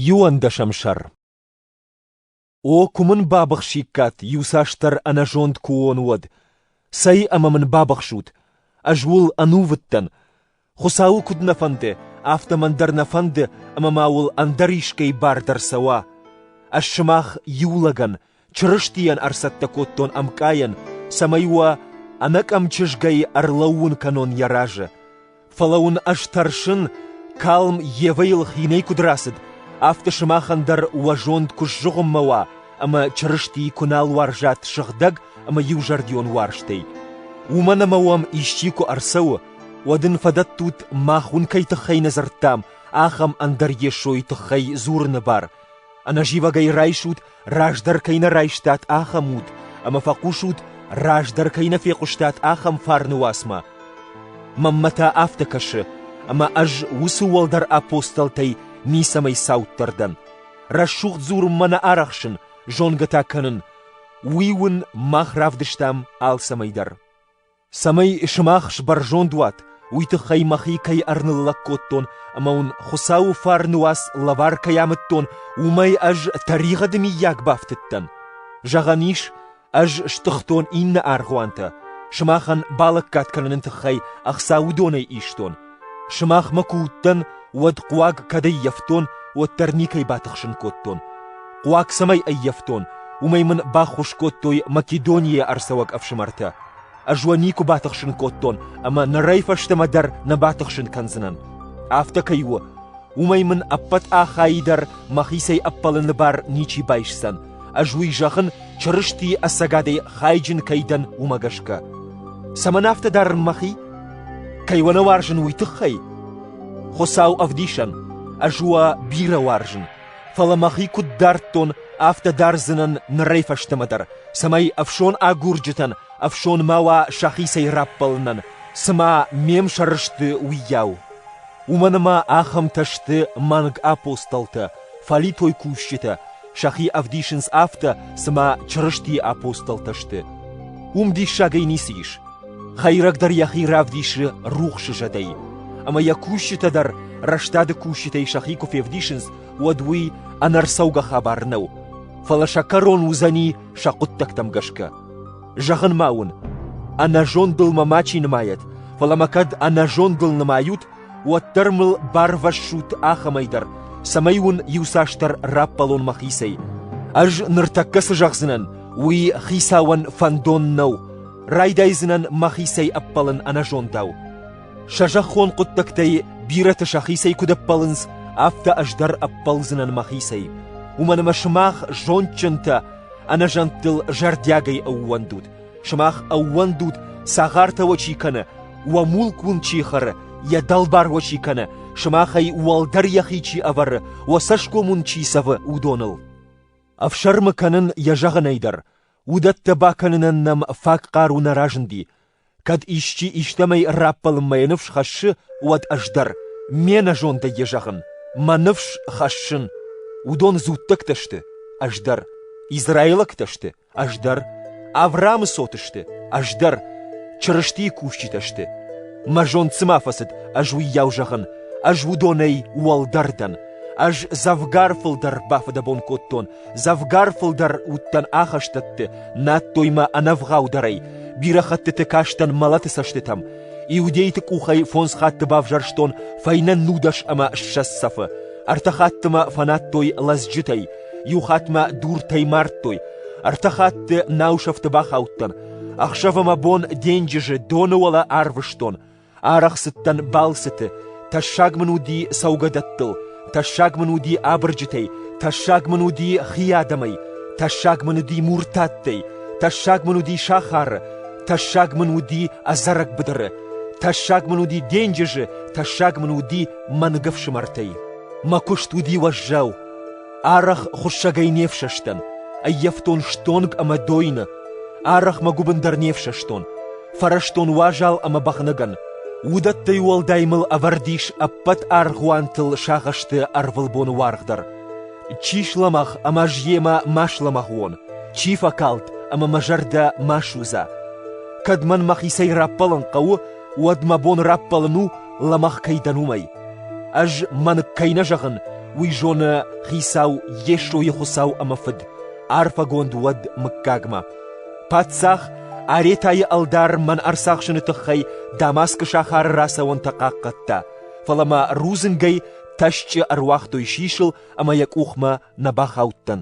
Иуӕндӕсӕм сӕр О, куы мын бабыхсиккат, иуцасдӕр ӕнӕзонд куы уон, уӕд! Цӕй ӕмӕ мын бабыхсут! Ӕз уыл ӕнувыдтӕн. Хуыцауы куыд нӕ фӕнды, афтӕ мӕн дӕр нӕ фӕнды, ӕмӕ ма уыл ӕндӕр искӕй бар дӕр цӕуа. Ӕз сымах иу лӕгӕн, Чырыстийӕн ӕрцӕттӕ кодтон ӕмкъайӕн, цӕмӕй уӕ ӕнӕкъӕм чызгӕй ӕрлӕууын кӕнон йӕ разы. Фӕлӕ уын ӕз тӕрсын, калм Евӕйыл хинӕй куыд рацыд, афтӕ сымахӕн дӕр уӕ зонд куы сзыгъуыммӕ уа ӕмӕ Чырыстийы куы нал уарзат сыгъдӕг ӕмӕ иузӕрдион уарзтӕй. Уымӕн ӕмӕ уӕм исчи куы ӕрцӕуы, уӕд ын фӕдӕттут, мах уын кӕй тыххӕй нӕ дзырдтам, ахӕм ӕндӕр Йесойы тыххӕй дзурыны бар. Ӕнӕзивӕгӕй райсут раздӕр кӕй нӕ райстат ахӕм уд, ӕмӕ фӕхъусут, раздӕр кӕй нӕ фехъуыстат ахӕм фарны уацмӕ. Мӕнмӕ та афтӕ кӕсы, ӕмӕ ӕз уыцы уӕлдӕр апостолтӕй ницӕмӕй цауддӕр дӕн. Рӕсугъд дзурынмӕ нӕ арӕхсын, зонгӕ та кӕнын, уый уын мах равдыстам алцӕмӕй дӕр. цӕмӕй сымах сбӕрзонд уат, уый тыххӕй мӕхи кӕй ӕрныллӕг кодтон ӕмӕ уын Хуыцауы фарны уац лӕвар кӕй амыдтон, уымӕй ӕз тӕригъӕды миййаг бафтыдтӕн. Зӕгъӕн ис, ӕз стыхтон иннӕ аргъуантӕ, сымахӕн балӕггад кӕныны тыххӕй ӕхца уыдонӕй истон, Сымахмӕ куы уыдтӕн, уӕд хъуаг кӕд ӕййӕфтон, уӕддӕр никӕй батыхсын кодтон. Хъуаг цӕмӕй ӕййӕфтон, уымӕй мын баххуыс кодтой Македонийӕ ӕрцӕуӕг ӕфсымӕртӕ. Ӕз уӕ никуы батыхсын кодтон, ӕмӕ нырӕй фӕстӕмӕ дӕр нӕ батыхсын кӕндзынӕн. Афтӕ кӕй у, уымӕй мын ӕппӕт ахайы дӕр мӕхицӕй ӕппӕлыны бар ничи байсдзӕн, Ӕз уый зӕгъын, Чырыстийы ӕцӕгадӕй хайджын кӕй дӕн, уымӕ гӕсгӕ. Цӕмӕн афтӕ дарын мӕхи? Кӕй уӕ нӕ уарзын, уый тыххӕй? Хуыцау ӕвдисӕн, ӕз уӕ бирӕ уарзын, фӕлӕ мӕхи куыд дардтон, афтӕ дардзынӕн нырӕй фӕстӕмӕ дӕр, цӕмӕй ӕфсон агурджытӕн ӕфсон ма уа сӕхицӕй раппӕлынӕн, цыма ме мсӕр сты, уыйау. Уымӕн ӕмӕ ахӕмтӕ сты мӕнг апостолтӕ, фӕлитой кусджытӕ сӕхи ӕвдисынц афтӕ, цыма Чырыстийы апостолтӕ сты. Уым диссагӕй ницы ис. Хӕйрӕг дӕр йӕхи равдисы рухсы зӕдӕй, ӕмӕ йӕ кусджытӕ дӕр рӕстады кусджытӕй сӕхи куы февдисынц, уӕд уый ӕнӕрцӕугӕ хабар нӕу, фӕлӕ сӕ кӕрон уыдзӕни сӕ хъуыддӕгтӕм гӕсгӕ. Зӕгъын ма уын, ӕнӕзондыл мӕ мачи нымайӕт, фӕлӕ мӕ кӕд ӕнӕзондыл нымайут, уӕддӕр мыл барвӕссут ахӕмӕй дӕр, цӕмӕй уын иуцасдӕр раппӕлон мӕхицӕй. Ӕз ныртӕккӕ цы зӕгъдзынӕн, уый хицауӕн фӕндон нӕу, райдайдзынӕн мӕхицӕй ӕппӕлын ӕнӕзондау. Сӕ зӕххон хъуыддӕгтӕй бирӕты сӕхицӕй куыд ӕппӕлынц, афтӕ ӕз дӕр ӕппӕлдзынӕн мӕхицӕй. Уымӕн ӕмӕ сымах зондджынтӕ, ӕнӕзӕнттыл зӕрдиагӕй ӕууӕндут, Сымах ӕууӕндут, цагъартӕ уӕ чи кӕны, уӕ мулк уын чи хӕры, йӕ дӕлбар уӕ чи кӕны, сымахӕй уӕлдӕр йӕхи чи ӕвӕры, уӕ цӕсгом уын чи цӕвы, уыдоныл. Ӕфсӕрмы кӕнын йӕ зӕгъынӕй дӕр, уыдӕттӕ бакӕнынӕн нӕм фаг хъару нӕ разынди. Кӕд исчи истӕмӕй раппӕлынмӕ йӕ ныфс хӕссы, уӕд ӕз дӕр, ме нӕзондӕй йӕ зӕгъын, мӕ ныфс хӕссын. Уыдон дзуттӕгтӕ сты, ӕз дӕр, израилӕгтӕ сты, Ӕз дӕр, Аврамы цот сты, ӕз дӕр, Чырыстийы кусджытӕ сты. Мӕ зонд цыма фӕцыд, ӕз уыйау зӕгъын, ӕз уыдонӕй уӕлдӕр дӕн. Ӕз дзӕвгар фылдӕр бафыдӕбон кодтон, дзӕвгар фылдӕр уыдтӕн ахӕстӕтты, надтой мӕ ӕнӕвгъаудӕрӕй, бирӕ хӕттыты кастӕн мӕлӕты цӕстытӕм. Иудейты къухӕй фондз хатты бавзӕрстон фӕйнӕ нудӕс ӕмӕ ссӕдз цӕфы, ӕртӕ хатты мӕ фӕнадтой лӕдзджытӕй, Иу хатт мӕ дуртӕй мардтой, ӕртӕ хатты нау сӕфты бахаудтӕн, ӕхсӕв ӕмӕ бон денджызы доны уӕлӕ арвыстон, арӕх цыдтӕн балцыты, тӕссаг мын уыди цӕугӕдӕттыл, тӕссаг мын уыди абырджытӕй, тӕссаг мын уыди хи адӕмӕй, тӕссаг мын уыди муртаттӕй, тӕссаг мын уыди сахары, тӕссаг мын уыди ӕдзӕрӕг быдыры, тӕссаг мын уыди денджызы, тӕссаг мын уыди мӕнг ӕфсымӕртӕй. Мӕ куыст уыди уӕззау, Арӕх хуыссӕгӕй не фсӕстӕн, ӕййӕфтон стонг ӕмӕ дойны, арӕхмӕ гуыбындӕр не фсӕстон, фӕрӕзтон уазал ӕмӕ бӕгънӕгӕн. Уыдӕттӕй уӕлдай мыл ӕвӕрд ис ӕппӕт аргъуантыл сагъӕсты ӕрвылбоны уаргъ дӕр. Чи слӕмӕгъ ӕмӕ ӕз йемӕ ма слӕмӕгъ уон, чи фӕкалд ӕмӕ мӕ зӕрдӕ ма судза. Кӕд мӕн мӕхицӕй раппӕлын хъӕуы, уӕд мӕ бон раппӕлын у лӕмӕгъ кӕй дӕн, уымӕй. Ӕз мӕнг кӕй нӕ зӕгъын, уый зоны Хицау Йесойы Хуыцау ӕмӕ Фыд, арфӕгонд уӕд мыггагмӕ. Паддзах Аретайы ӕлдар мӕн ӕрцахсыны тыххӕй Дамаскы сахары рацӕуӕнтӕ хъахъхъӕдта, фӕлӕ мӕ рудзынгӕй тӕсчъы ӕруагътой сисыл ӕмӕ йӕ къухмӕ нӕ бахаудтӕн.